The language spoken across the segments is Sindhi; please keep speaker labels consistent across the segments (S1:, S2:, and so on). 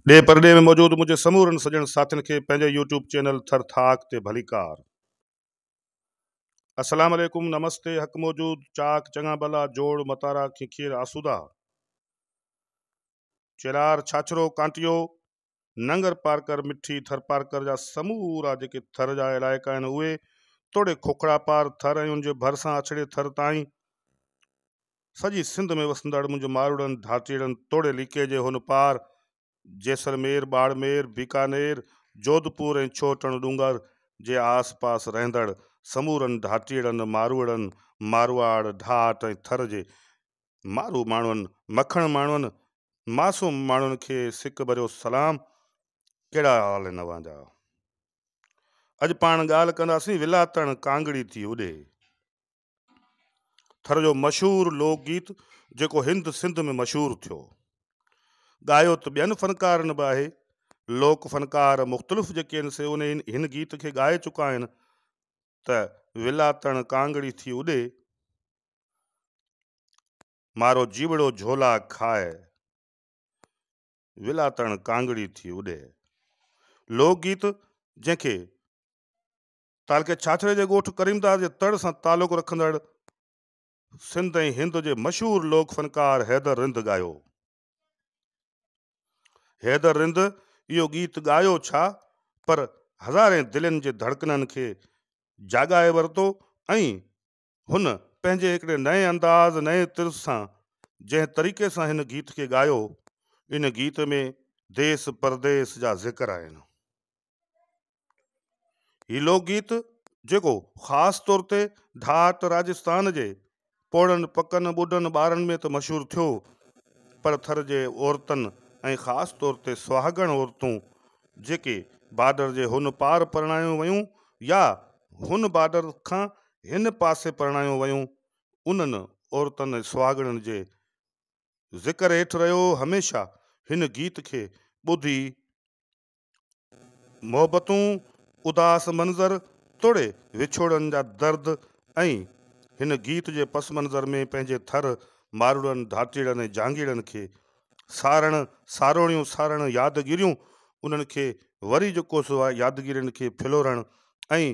S1: ڏيهه پرڏيهه ۾ موجود منهنجي سمورن سڄڻ ساٿين کي پنهنجي يوٽيوب چينل ٿر ٿاڪ تي ڀليڪار. اسلام عليڪم نمستي حق موجود چاڪ چڱا ڀلا جوڙ متارا کيکير آسودا چيلار ڇاڇرو ڪانٽيو ننگر پارڪر مٺي ٿر پارڪر جا سمورا جيڪي ٿر جا علائقا آهن اهي توڙي کوکڙا پار ٿر ۽ ان جي ڀرسان اڇڙي ٿر تائين سڄي سنڌ ۾ وسندڙ منهنجي ماروئڙن ڌاٽيئڙن توڙي ليڪي جي هن پار جيسلمير، ٻاڙمير، بيڪانير، جوڌپور ۽ ڇوهه ٽڻ ڏونگر جي آس پاس رهندڙ سمورن ڌاٽيئڙن، ماروئڙن، مارواڙ، ڍاٽ ۽ ٿر جي مارو ماڻهن، مکڻ ماڻهن، معصوم ماڻهن کي سڪ ڀريو سلام. ڪهڙا حال آهن اوهان جا؟ اڄ پاڻ ڳالهه ڪنداسين ولاء تڻ ڪانگڙي ٿي اڏي. ٿر جو مشهور لوڪ گيت جيڪو هند سنڌ ۾ مشهور ٿيو. ڳايو ته ٻين فنڪارن به آهي. لوڪ فنڪار مختلف جيڪي آهن سي ان هن گيت کي ڳائي چڪا آهن ته ولاتڻ ڪانگڙي ٿي اڏي، مارو جيوڙو جهولا کاء، ولاتڻ ڪانگڙي ٿي اڏي. لوڪ گيت جنهن کي تعلقي ڇاڇري جي ڳوٺ ڪريمداد جي تڙ سان تعلق رکندڙ سنڌ ۽ هند جي مشهور لوڪ فنڪار حيدر رند ڳايو. حيدر رند اهو ڳيت ڳايو ڇا پر هزارين دلين جي ڌڙڪنن کي جاڳائي ورتو ۽ هن پنهنجي هڪڙي نئين انداز، نئين طرز سان جنهن طريقي سان هن گيت کي ڳايو، ان گيت ۾ ديس پرديس جا ذڪر آهن. هي لوڪ گيت جيڪو خاص طور تي ڍاٽ راجستان جي پوڙهن، پڪن، ٻڍن، ٻارن ۾ ته مشهور ٿيو پر ٿر جي عورتن ۽ خاص طور تي سهاڳڻ عورتون جيڪي بارڊر جي هن پار پرڻايون ويون يا هن بارڊر کان هن پاسي پرڻايون ويون، انهن عورتن ۽ سهاڳڻين جي ذڪر هيٺ رهيو. هميشه هن گيت کي ٻڌي محبتون، اداس منظر توڙي وڇوڙن جا درد ۽ هن گيت جي پس منظر ۾ پنهنجي ٿر، ماروئڙن، ڌاٽيئڙن ۽ جهانگيئڙن کي سارڻ، ساروڻيون سارڻ، يادگيريون انهن کي وري جوڪوس يادگيرين کي ڦلورڻ ۽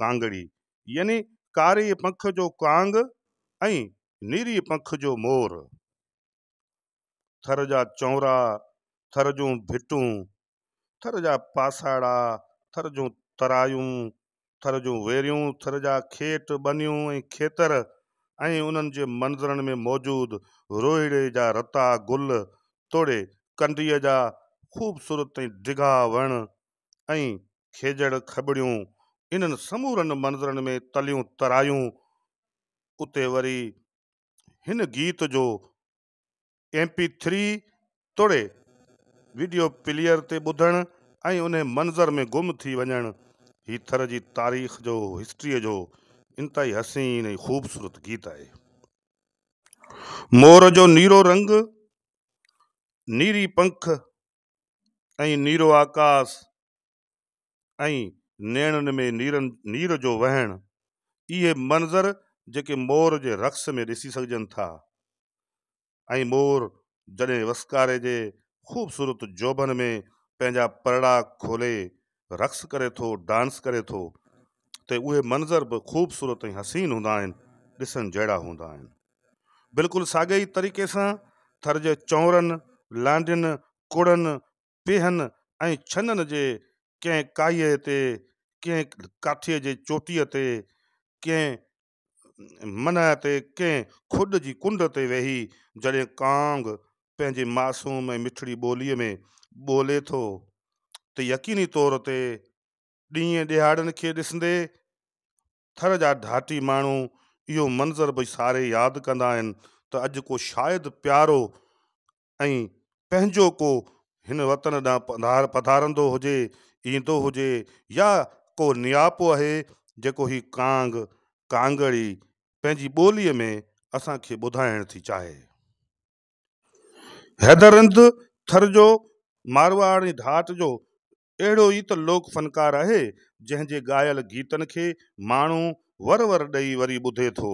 S1: ڪانگڙي يعني ڪاري پنک جو ڪانگ ۽ نيري پنک جو مور. ٿر جا چونرا، ٿر جون ڀٽون، ٿر جا پاساڙا، ٿر جون ترايون، ٿر جون ويريون، ٿر جا کيٽ، ٻنيون ۽ کيتر ۽ انهن جي منظرن ۾ موجود روهيڙي جا رتا گل توڙي ڪنڊيء جا خوبصورت ۽ ڊگها وڻ ۽ کيڄڙ کٻڙيون انهن سمورن منظرن ۾ تليون ترايون. اتي وري هن گيت جو ايم پي ٿري توڙي وڊيو پليئر تي ٻڌڻ ۽ انهي منظر ۾ گم ٿي وڃڻ هي ٿر جي تاريخ جو هسٽري جو انتهائي حسين ۽ خوبصورت گيت آهي. مور جو نيرو رنگ، نيري پنک، ۽ نيرو آڪاس ۽ نيڻن ۾ نير جو وهڻ، اهي منظر جيڪي مور جي رقص ۾ ڏسي سگهجن ٿا ۽ مور جڏهن وسڪاري جي خوبصورت جوڀن ۾ پنهنجا پرڙا کولي رقص ڪري ٿو، ڊانس ڪري ٿو ته اهي منظر به خوبصورت ۽ حسين هوندا آهن، ڏسڻ جهڙا هوندا آهن. بلڪل ساڳئي ئي طريقي سان ٿر جي چؤرن، لانڍين، ڪڙن، پيهن ۽ ڇنن جي ڪنهن ڪائيء تي، ڪنهن ڪاٺيء جي چوٽيء تي، ڪنهن منهه تي ڪنهن کڏ جي ڪنڊ تي ويهي جڏهن ڪانگ پنهنجي معصوم ۽ مٺڙي ٻوليء ۾ ٻولي ٿو ته يقيني طور تي ڏينهن ڏهاڙن کي ڏسندي ٿر جا ڍاٽي ماڻهو اهو منظر به ساري ياد ڪندا آهن ته اڄ ڪو شايد پيارو ۽ پنهنجو ڪو هن وطن ڏانهن پڌارندو هجي، ايندو هجي يا ڪو نياپو اهي جيڪو هي ڪانگ، ڪانگڙي، پنهنجي ٻوليء ۾ اسان کي ٻڌائڻ ٿي چاهي. حيدر رند ٿر جو مارواڙي ڍاٽ جو اهڙو ئي ته لوڪ فنڪار آهي، جنهن جي ڳايل گيتن کي ماڻهو ور ور ڏئي وري ٻڌي ٿو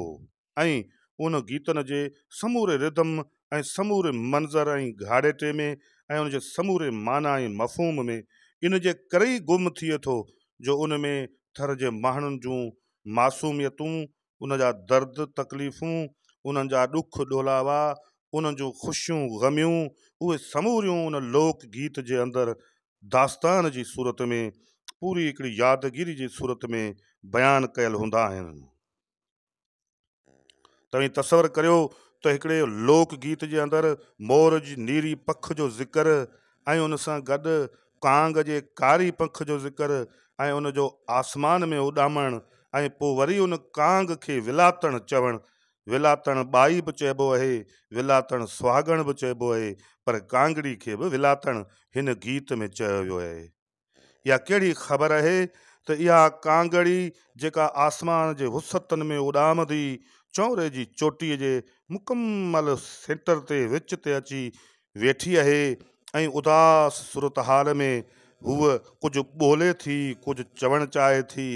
S1: ۽ ان گيتن جي سموري ردم ۽ سموري منظر ۽ گهاڙيٽي ۾ ۽ ان جي سموري معنيٰ ۽ مفهوم ۾ ان جي ڪري ئي گم ٿئي ٿو جو ان ۾ ٿر جي مهڻن جون معصوميتون ان جا درد تڪليفون، انهن جا ڏک ڏولاوا، انهن جون خوشيون غميون، اهي سموريون ان لوڪ گيت جي اندر داستان جي صورت ۾ پوري هڪڙي يادگيري جي صورت ۾ بيان ڪيل هوندا آهن. توهين تصور ڪريو ته هڪڙي لوڪ گيت جي اندر مور جي نيري پک جو ذڪر ۽ ان سان گڏ ڪانگ جي ڪاري پک جو ذڪر ۽ ان جو آسمان ۾ اڏامڻ ۽ پوء وري ان ڪانگ کي ولاتڻ چوڻ، ولاتڻ ٻائي به چئبو اهي، ولاتڻ سهاڳڻ به چئبو اهي، پر ڪانگڙي کي به ولاتڻ هن گيت ۾ چيو ويو اهي. اها ڪهڙي خبر اهي ته اها ڪانگڙي جيڪا آسمان جي وسعتن ۾ اڏامندي چؤري جي چوٽي جي مڪمل سينٽر تي وچ تي اچي ويٺي اهي ۽ اداس صورتحال ۾ هوء ڪجهه ٻولي ٿي، ڪجهه چوڻ چاهي ٿي،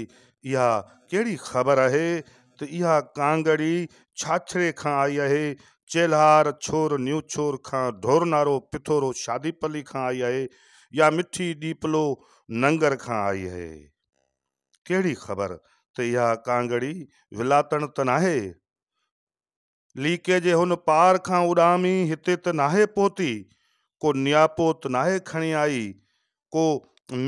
S1: اها ڪهڙي خبر آهي ته اها ڪانگڙي ڇاڇري کان آئي آهي، چيلهار ڇور نيوڇور کان، ڍورنارو پٿورو شادي پلي کان آئي آهي يا مٺي ڏيپلو ننگر کان آئي اهي؟ ڪهڙي خبر ته اها ڪانگڙي ولاتڻ ته ناهي؟ ليڪي جي هن پار کان اڏامي هتي ته ناهي پهتي، ڪو نياپو ته ناهي کڻي آئي، ڪو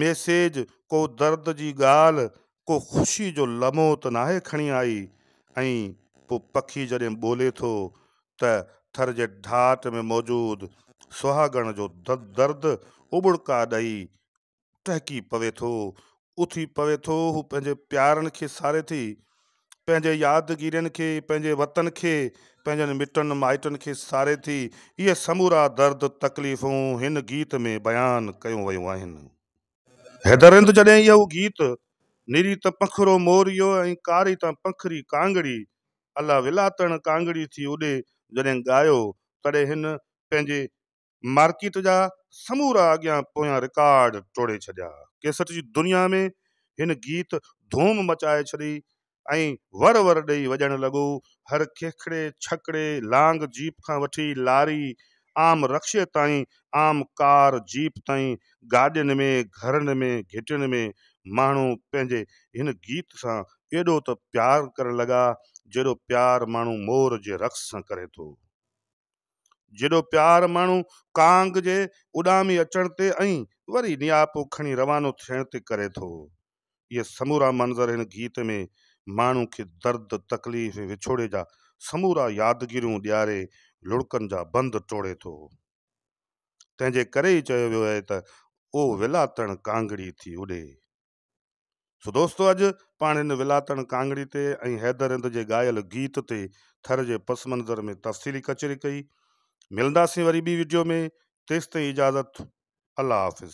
S1: ميسيج، ڪو درد جي ڳالهه، ڪو خوشي جو لمحو ته ناهي کڻي آئي. ائين پوء پکي جڏهن ٻولي ٿو ته ٿر جي ڍاٽ ۾ موجود سهاڳڻ جو درد اٻڙڪا ڏئي ٽهڪي پوي ٿو، اٿي پوي ٿو، هو پنهنجي پيارن کي ساري ٿي، پنهنجي يادگيرين کي، پنهنجي وطن کي، پنهنجن مٽن مائٽن کي ساري ٿي، اهي سمورا درد تڪليفون هن گيت ۾ بيان ڪيون ويون آهن. حيدر رند جڏهن اهو گيت نري ته پنکرو موريو ۽ ڪاري ته پنکري ڪانگڙي الا ولا تڻ ڪانگڙي ٿي اڏي جڏهن ڳايو تڏهن هن پنهنجي مارڪيٽ جا سمورا اڳيان پويان رڪارڊ ٽوڙي ڇڏيا. ڪيسٽ جي دنيا ۾ هن گيت ڌوم مچائي ڇڏي ۽ ور ور ڏئي وڄڻ لڳو. هر کيکڙي، ڇڪڙي، لانگ جيپ کان وٺي لاري، عام رڪشي تائين، عام ڪار، جيپ تائين، گاڏين ۾، گهرن ۾، گهٽين ۾ ماڻهو پنهنجي هن گيت سان ايڏو ته پيار ڪرڻ لڳا، جيڏو پيار ماڻهو مور جي رقص سان ڪري ٿو. جيڏو پيار ماڻهو ڪانگ جي اڏامي اچڻ تي ۽ وري نياپو کڻي روانو ٿيڻ تي ڪري ٿو. اهي سمورا منظر هن گيت ۾ ماڻهو کي درد، تڪليف ۽ وڇوڙي جا سمورا يادگيريون ڏياري لڙڪن جا بند ٽوڙي ٿو. تنهن جي ڪري ئي چيو ويو آهي ته، او ولا تڻ ڪانگڙي ٿي اڏي. سو دوستو اڄ پاڻ هن ولاتڻ ڪانگڙي تي ۽ حيدر هند جي ڳايل گيت تي ٿر جي پس منظر ۾ تفصيلي ڪچهري ڪئي. ملنداسين وري ٻي وڊيو ۾ تيستائين اجازت الله حافظ.